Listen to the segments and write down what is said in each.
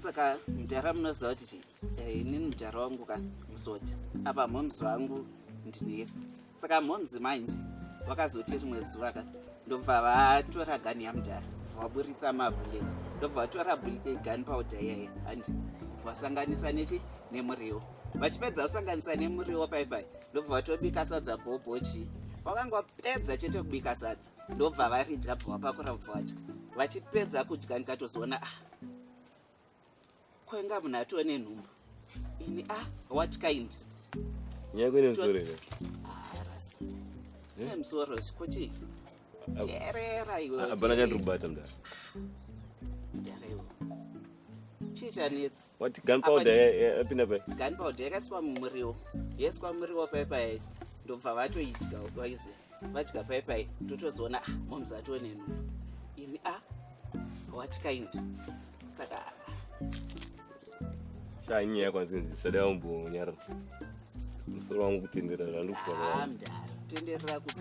saka mudhara munoziva kuti chii eh, inini mudhara wangu ka musoti apa mhomzi vangu ndinesi saka momzi manje vakazoti rimwe zuva ka ndobva vatora gani yamudhara vaburitsa mabullets ndobva vatora eh, gani powder iyaye and vasanganisa nechi nemuriwo vachipedza kusanganisa nemuriwo paipai ndobva vatobika sadza kuobochi vakanga vapedza chete kubika sadza ndobva varidya bva vapakura bva vadya vachipedza kudya ndikatozoona ah kwenga munhu atove nenhumbu ini a ah, what kind nyaya kwene musoro here ne musoro ko chii terera iweabana chandikubata mdara chii chanetsa wati gun powder yapinda pai gun powder yakaiswa mumuriwo yaiswa muriwo pai pai ndobva vatoidya waiziva vadya pai pai totozoona ah, moms ationeno ini a ah, what kind saka shanyaya kwanzinzi sada umbonyara musoro wangu kutenderera zvandikusvaa mdara tenderera kuti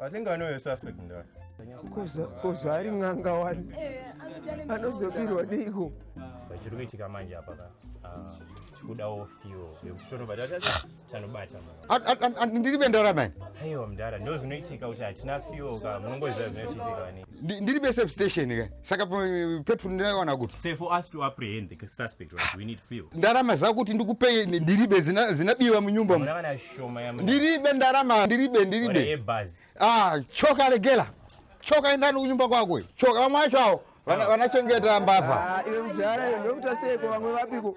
I think I know your suspect in that. Kuzo ari ng'anga wani anozobirwa neiko chiri kuitika manje apa ka ah, tikudawo fio yekuti tonobva tanobata ndiri bendara mani aiwa mdara ndozvinoitika kuti hatina fio ka munongoziva zvinochitika Ndi- ndiri besafe station ka saka pe- petrol ndinoiwana kuti Sir, for us to apprehend the suspect, right, we need fuel. ndarama zako kuti ndikupe ndiribe zina- zinabiwa munyumba mu Mwana shoma ya mwana. ndiribe ndarama ndiribe Mwana ndiribe yebhazi. ah choka regela choka endani kunyumba kwako choka vamwe vacho awo vana- vanachengeta mbavha Ah, iwe mudhara iwe ndokuita seiko vamwe vapiko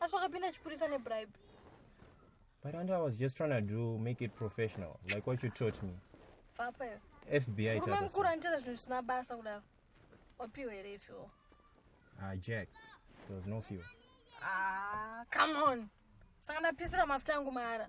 asi wakapinda chipurisa nebribe but and i was just trying to do make it professional like what you taught me fapayo fbi rume mukuru anitera zvinhu zvisina basa kudaro wapiwa here ifiwo ah jack there was no fuel ah come on saka ndapisira mafuta angu mahara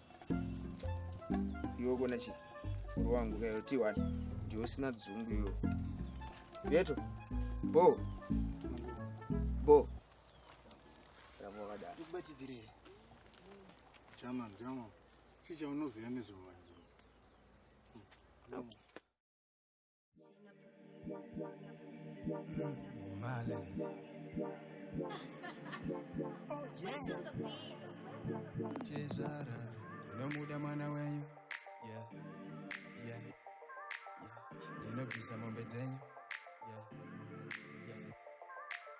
iwe kona chi muru wangu kayo t1 ndiwo sina dzungu iyo yeto bo bo ramba wakadaro ndikubatidzirei chaman chaman chichaunoziva nezvevanhu Tezvara ndinomuda mwana wenyu yeah, yeah, yeah. ndinobvisa mombe dzenyu yeah, yeah.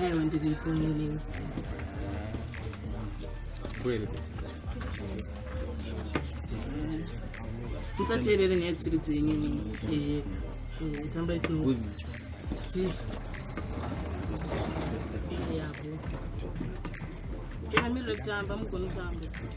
Aiwa ndiripo nini. Kweli. Musateerere nyaya dzisiri dzenyu. Eh. eh tamba isu. Yabo. Kama mimi ndio tamba mkono tamba.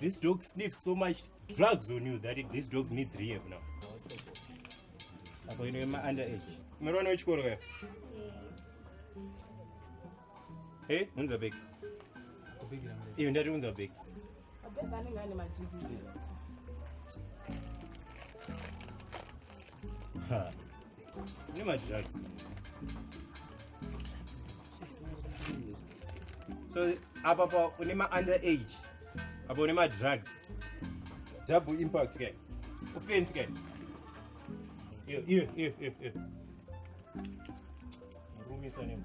This dog sniffs so much drugs on you that it, this dog needs rehab now. Apo ino yema under age. Mwana wechikoro ya? Hey, unza big. Iyo ndati unza big. Abeba anenge ane majigiri. Ha. Nema drugs. so apa pa une ma-under age apa une ma-drugs double impact ke kufensi ke iyo iyo iyo iyo iyo murumisa nemo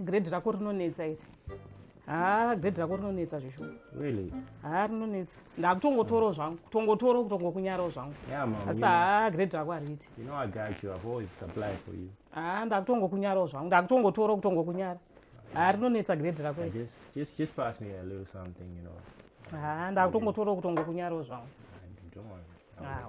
grade rako rinonetsa iri haa grade rako rinonetsa zvishoma really haa rinonetsa ndakutongotoro zvangu kutongotoro kutongokunyarawo zvangu asi haa grade rako hariiti haa ndakutongokunyarawo zvangu ndakutongotoro kutongokunyara haa rinonetsa grade rako haa ndakutongotoro kutongokunyarawo zvangu ah,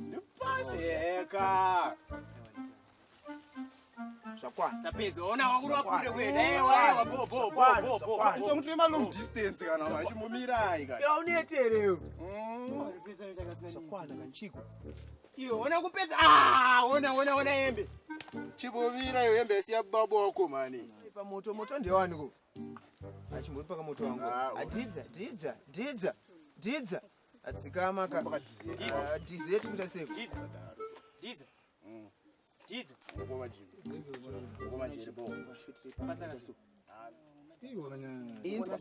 Paseka. Zvakwana. Sapedza ona wakuru wakure kwenda. Eh waya bo bo bo bo bo. Iso mutwe ma long distance kana wachi mumirai kana. Ya unetereyo. Mm. Zvakwana kanchiko. Iyo ona kupedza. Ah, ona ona ona yembe. Chibovira iyo yembe siya babo wako mani. Pa moto moto ndewani ko. Achimbori paka moto wangu. Adidza, ah, didza, didza, didza. adzikama ka Ah, tizi yetu kuita sei Didza. Didza. inzwa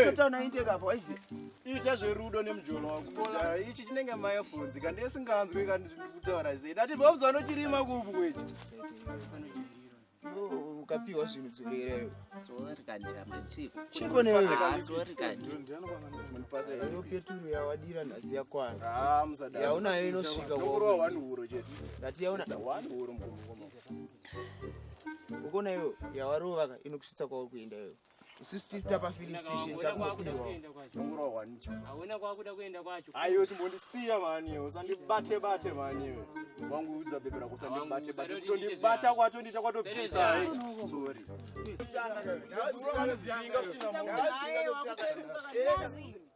totaona intake apo aise ita zverudo nemujolo wako Ah, ichi chinenge mayefonzi ka ndesinganzwi ka ndiri kutaura sei ndati bobza vanochirima kuupu kwechi ukapiwa zvinhu dzorereyo chiko neweyo peturu yawadira nhasi yakwana yaunayo inosvika ndati yauna ukona iyo yawarovaka inokusvitsa kwauri kuenda iyoyo isusu tisi tapa filling station takupirwa ndongurohwa nicho hauna kwakuda kuenda kwacho aiwe chimbondisiya mani iwe usandibate bate mani iwe wangu udza bebe rako usandibate bate kutondibata kwacho ndicha kwatopisa sorry Thank you.